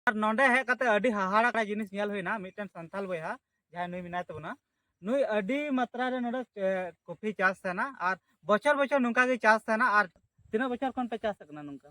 ᱟᱨ ᱱᱚᱰᱮ ᱦᱮᱡ ᱠᱟᱛᱮ ᱟᱹᱰᱤ ᱦᱟᱦᱟᱲᱟ ᱠᱟ ᱡᱤᱱᱤᱥ ᱧᱮᱞ ᱦᱩᱭᱱᱟ ᱢᱤᱫᱴᱮᱱ ᱥᱟᱱᱛᱟᱞ ᱵᱚᱭᱦᱟ ᱡᱟᱦᱟᱸᱭ ᱱᱩᱭ ᱢᱮᱱᱟᱭ ᱛᱟᱵᱚᱱᱟ ᱱᱩᱭ ᱟᱹᱰᱤ ᱢᱟᱛᱨᱟ ᱨᱮ ᱱᱚᱰᱮ ᱠᱚᱯᱷᱤ ᱪᱟᱥ ᱛᱟᱦᱮᱱᱟ ᱟᱨ ᱵᱚᱪᱷᱚᱨ ᱵᱚᱪᱷᱚᱨ ᱱᱚᱝᱠᱟ ᱜᱮ ᱪᱟᱥ ᱛᱟᱦᱮᱱᱟ ᱟᱨ ᱛᱤᱱᱟᱹᱜ ᱵᱚᱪᱷᱚᱨ ᱠᱷᱚᱱ ᱯᱮ ᱪᱟᱥ ᱠᱟᱱᱟ ᱱᱚᱝᱠᱟ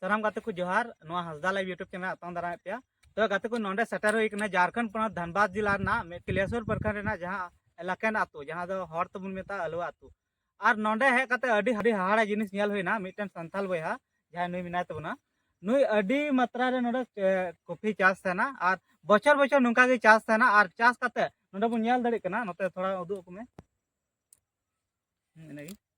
ᱥᱟᱱᱟᱢ ᱜᱟᱛᱮ ᱠᱚ ᱡᱚᱦᱟᱨ ᱱᱚᱣᱟ ᱦᱟᱸᱥᱫᱟ ᱞᱟᱭᱤᱵ ᱭᱩᱴᱩᱵᱽ ᱪᱮᱱᱮᱞ ᱟᱛᱟᱝ ᱫᱟᱨᱟᱢᱮᱫ ᱯᱮᱭᱟ ᱛᱚ ᱜᱟᱛᱮ ᱠᱚ ᱱᱚᱰᱮ ᱥᱮᱴᱮᱨ ᱦᱩᱭ ᱠᱟᱱᱟ ᱡᱷᱟᱨᱠᱷᱚᱸᱰ ᱯᱚᱱᱚᱛ ᱫᱷᱟᱱᱵᱟᱫᱽ ᱡᱤᱞᱟ ᱨᱮᱱᱟᱜ ᱠᱤᱞᱮᱥᱚᱨ ᱯᱨᱚᱠᱷᱚᱸᱰ ᱨᱮᱱᱟᱜ ᱡᱟᱦᱟᱸ ᱮᱞᱟᱠᱮᱱ ᱟᱛᱳ ᱡᱟᱦᱟᱸ ᱫᱚ ᱦᱚᱲ ᱛᱮᱵᱚᱱ ᱢᱮᱛᱟᱜᱼᱟ ᱟᱞᱩᱣᱟ ᱟᱛᱳ ᱟᱨ ᱱᱚᱰᱮ ᱦᱮᱡ ᱠᱟᱛᱮ ᱟᱹᱰᱤ ᱟᱹᱰᱤ ᱦᱟᱦᱟᱲᱟ ᱡᱤᱱᱤᱥ ᱧᱮᱞ ᱦᱩᱭᱱᱟ ᱢᱤᱫᱴᱮᱱ ᱥᱟᱱᱛᱟᱞ ᱵᱚᱭᱦᱟ ᱡᱟᱦᱟᱸᱭ ᱱᱩᱭ ᱢᱮᱱᱟᱭ ᱛᱟᱵᱚᱱᱟ ᱱᱩᱭ ᱟᱹᱰᱤ ᱢᱟᱛᱨᱟ ᱨᱮ ᱱᱚᱰᱮ ᱠᱚᱯᱷᱤ ᱪᱟᱥ ᱛᱟᱦᱮᱱᱟ ᱟᱨ ᱵᱚᱪᱷᱚᱨ ᱵᱚᱪᱷᱚᱨ ᱱᱚᱝᱠᱟ ᱜᱮ ᱪᱟᱥ ᱛᱟᱦᱮᱱᱟ ᱟᱨ ᱪᱟᱥ ᱠᱟᱛᱮ ᱱᱚᱰᱮ ᱵᱚᱱ ᱧᱮᱞ ᱫᱟᱲᱮᱭᱟᱜ ᱠᱟᱱᱟ ᱱᱚᱛᱮ ᱛᱷᱚᱲᱟ ᱩᱫᱩᱜ ᱟᱠᱚ ᱢᱮ ᱤᱱᱟᱹᱜᱮ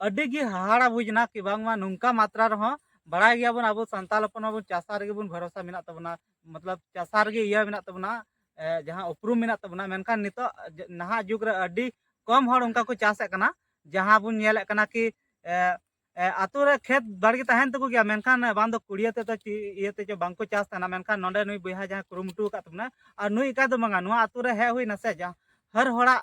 ᱟᱹᱰᱤ ᱜᱮ ᱦᱟᱦᱟᱲᱟ ᱵᱩᱡᱽ ᱮᱱᱟ ᱠᱤ ᱵᱟᱝᱢᱟ ᱱᱚᱝᱠᱟ ᱢᱟᱛᱨᱟ ᱨᱮᱦᱚᱸ ᱵᱟᱲᱟᱭ ᱜᱮᱭᱟᱵᱚᱱ ᱟᱵᱚ ᱥᱟᱱᱛᱟᱲ ᱦᱚᱯᱚᱱ ᱢᱟᱵᱚᱱ ᱪᱟᱥᱟ ᱨᱮᱜᱮ ᱵᱚᱱ ᱵᱷᱚᱨᱥᱟ ᱢᱮᱱᱟᱜ ᱛᱟᱵᱚᱱᱟ ᱢᱚᱛᱞᱚᱵ ᱪᱟᱥᱟ ᱨᱮᱜᱮ ᱤᱭᱟᱹ ᱢᱮᱱᱟᱜ ᱛᱟᱵᱚᱱᱟ ᱡᱟᱦᱟᱸ ᱩᱯᱨᱩᱢ ᱢᱮᱱᱟᱜ ᱛᱟᱵᱚᱱᱟ ᱢᱮᱱᱠᱷᱟᱱ ᱱᱤᱛᱚᱜ ᱱᱟᱦᱟᱜ ᱡᱩᱜᱽ ᱨᱮ ᱟᱹᱰᱤ ᱠᱚᱢ ᱦᱚᱲ ᱚᱱᱠᱟ ᱠᱚ ᱪᱟᱥᱮᱫ ᱠᱟᱱᱟ ᱡᱟᱦᱟᱸ ᱵᱚᱱ ᱧᱮᱞᱮᱫ ᱠᱟᱱᱟ ᱠᱤ ᱟᱛᱳ ᱨᱮ ᱠᱷᱮᱛ ᱵᱟᱲᱜᱮ ᱛᱟᱦᱮᱱ ᱛᱟᱠᱚ ᱜᱮᱭᱟ ᱢᱮᱱᱠᱷᱟᱱ ᱵᱟᱝ ᱫᱚ ᱠᱩᱲᱤᱭᱟᱹ ᱛᱮᱫᱚ ᱤᱭᱟᱹ ᱛᱮ ᱵᱟᱝᱠᱚ ᱪᱟᱥ ᱛᱟᱦᱮᱱᱟ ᱢᱮᱱᱠᱷᱟᱱ ᱱᱚᱰᱮ ᱱᱩᱭ ᱵᱚᱭᱦᱟ ᱡᱟᱦᱟᱸ ᱠᱩᱨᱩᱢᱩᱴᱩ ᱟᱠᱟᱫ ᱛᱟᱵᱚᱱᱟ ᱟᱨ ᱱᱩᱭ ᱮᱠᱟ ᱫᱚ ᱵᱟᱝᱟ ᱱᱚᱣᱟ ᱟᱛᱳ ᱨᱮ ᱦᱮᱡ ᱦᱩᱭᱱᱟ ᱥᱮ ᱦᱟᱨ ᱦᱚᱲᱟᱜ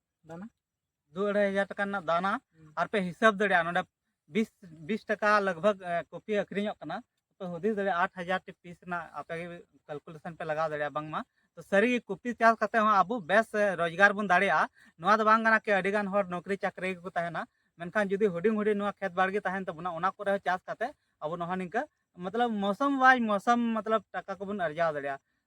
ᱫᱟᱱᱟ ᱫᱩ ᱟᱹᱲᱟᱹᱭ ᱦᱟᱡᱟᱨ ᱴᱟᱠᱟ ᱨᱮᱱᱟᱜ ᱫᱟᱱᱟ ᱟᱨ ᱯᱮ ᱦᱤᱥᱟᱹᱵ ᱫᱟᱲᱮᱭᱟᱜᱼᱟ ᱱᱚᱰᱮ ᱵᱤᱥ ᱵᱤᱥ ᱴᱟᱠᱟ ᱞᱟᱜᱽᱵᱷᱟᱜᱽ ᱠᱚᱯᱤ ᱟᱹᱠᱷᱨᱤᱧᱚᱜ ᱠᱟᱱᱟ ᱯᱮ ᱦᱩᱫᱤᱥ ᱫᱟᱲᱮᱭᱟᱜᱼᱟ ᱟᱴ ᱦᱟᱡᱟᱨ ᱴᱤ ᱯᱤᱥ ᱨᱮᱱᱟᱜ ᱟᱯᱮ ᱜᱮ ᱠᱟᱞᱠᱩᱞᱮᱥᱚᱱ ᱯᱮ ᱞᱟᱜᱟᱣ ᱫᱟᱲᱮᱭᱟᱜᱼᱟ ᱵᱟᱝᱢᱟ ᱛᱚ ᱥᱟᱹᱨᱤ ᱜᱮ ᱠᱚᱯᱤ ᱪᱟᱥ ᱠᱟᱛᱮ ᱦᱚᱸ ᱟᱵᱚ ᱵᱮᱥ ᱨᱳᱡᱽᱜᱟᱨ ᱵᱚᱱ ᱫᱟᱲᱮᱭᱟᱜᱼᱟ ᱱᱚᱣᱟ ᱫᱚ ᱵᱟᱝ ᱠᱟᱱᱟ ᱠᱤ ᱟᱹᱰᱤ ᱜᱟᱱ ᱦᱚᱲ ᱱᱚᱠᱨᱤ ᱪᱟᱹᱠᱨᱤ ᱜᱮᱠᱚ ᱛᱟᱦᱮᱱᱟ ᱢᱮᱱᱠᱷᱟᱱ ᱡᱩᱫᱤ ᱦᱩᱰᱤᱧ ᱦᱩᱰᱤᱧ ᱱᱚᱣᱟ ᱠᱷᱮᱛ ᱵᱟᱲᱜᱮ ᱛᱟᱦᱮᱱ ᱛᱟᱵᱚᱱᱟ ᱚᱱᱟ ᱠᱚᱨᱮ ᱦᱚᱸ ᱪᱟᱥ ᱠᱟᱛᱮ ᱟᱵᱚ ᱱᱚᱣᱟ ᱱᱤᱝᱠᱟᱹ ᱢᱚᱛᱞᱚᱵ ᱢᱚᱥᱚᱢ ᱵᱟᱭ ᱢᱚᱥᱚᱢ ᱢᱚᱛᱞᱚᱵ ᱴᱟᱠᱟ ᱠᱚᱵᱚᱱ ᱟᱨᱡᱟᱣ ᱫᱟᱲᱮᱭᱟᱜᱼᱟ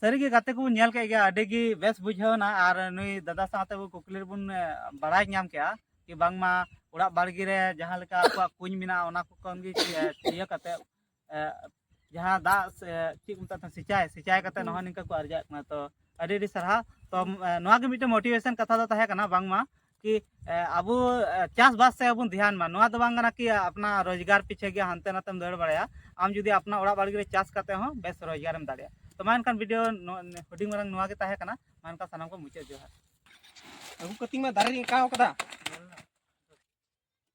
ᱥᱟᱹᱨᱤ ᱜᱮ ᱜᱟᱛᱮ ᱠᱚᱵᱚᱱ ᱧᱮᱞ ᱠᱮᱫ ᱜᱮᱭᱟ ᱟᱹᱰᱤ ᱜᱮ ᱵᱮᱥ ᱵᱩᱡᱷᱟᱹᱣᱱᱟ ᱟᱨ ᱱᱩᱭ ᱫᱟᱫᱟ ᱥᱟᱶᱛᱮ ᱟᱵᱚ ᱠᱩᱠᱞᱤ ᱨᱮᱵᱚᱱ ᱵᱟᱲᱟᱭ ᱧᱟᱢ ᱠᱮᱜᱼᱟ ᱠᱤ ᱵᱟᱝᱢᱟ ᱚᱲᱟᱜ ᱵᱟᱲᱜᱮ ᱨᱮ ᱡᱟᱦᱟᱸ ᱞᱮᱠᱟ ᱟᱠᱚᱣᱟᱜ ᱠᱩᱧ ᱢᱮᱱᱟᱜᱼᱟ ᱚᱱᱟ ᱠᱚ ᱠᱷᱚᱱ ᱜᱮ ᱤᱭᱟᱹ ᱠᱟᱛᱮ ᱡᱟᱦᱟᱸ ᱫᱟᱜ ᱪᱮᱫ ᱠᱚ ᱢᱮᱛᱟᱜ ᱥᱤᱸᱪᱟᱭ ᱥᱤᱸᱪᱟᱭ ᱠᱟᱛᱮ ᱱᱚᱜᱼᱚᱭ ᱱᱤᱝᱠᱟ ᱠᱚ ᱟᱨᱡᱟᱜ ᱠᱟᱱᱟ ᱛᱚ ᱟᱹᱰᱤ ᱟᱹᱰᱤ ᱥᱟᱨᱦᱟᱣ ᱛᱚ ᱱᱚᱣᱟ ᱜᱮ ᱢᱤᱫᱴᱮᱱ ᱢᱳᱴᱤᱵᱷᱮᱥᱚᱱ ᱠᱟᱛᱷᱟ ᱫᱚ ᱛᱟᱦᱮᱸ ᱠᱟᱱᱟ ᱵᱟᱝᱢᱟ ᱠᱤ ᱟᱵᱚ ᱪᱟᱥ ᱵᱟᱥ ᱥᱮ ᱵᱚᱱ ᱫᱷᱮᱭᱟᱱ ᱢᱟ ᱱᱚᱣᱟ ᱫᱚ ᱵᱟᱝ ᱠᱟᱱᱟ ᱠᱤ ᱟᱯᱱᱟ ᱨᱳᱡᱽᱜᱟᱨ ᱯᱤᱪᱷᱮ ᱜᱮ ᱦᱟᱱᱛᱮ ᱱᱟᱛᱮᱢ ᱫᱟᱹᱲ ᱵᱟᱲᱟᱭᱟ ᱟᱢ ᱡᱩᱫᱤ ᱟᱯᱱᱟ ᱚᱲᱟᱜ ᱵᱟᱲᱜᱮ ᱨᱮ ᱪᱟᱥ ᱠᱟᱛᱮ ᱦᱚᱸ ᱵᱮᱥ ᱨᱳᱡᱽᱜᱟᱨᱮᱢ ᱫᱟᱲᱮᱭᱟᱜᱼᱟ ᱛᱚ ᱢᱟ ᱮᱱᱠᱷᱟᱱ ᱵᱷᱤᱰᱤᱭᱳ ᱦᱩᱰᱤᱧ ᱢᱟᱨᱟᱝ ᱱᱚᱣᱟ ᱜᱮ ᱛᱟᱦᱮᱸ ᱠᱟᱱᱟ ᱢᱟ ᱮᱱᱠᱷᱟᱱ ᱥᱟᱱᱟᱢ ᱠᱚ ᱢᱩᱪᱟᱹᱫ ᱡᱚᱦᱟᱨ ᱟᱹᱜᱩ ᱠᱟᱛᱤᱧ ᱢᱟ ᱫᱟᱨᱮ ᱨᱤᱧ ᱟᱸᱠᱟᱣ ᱠᱟᱫᱟ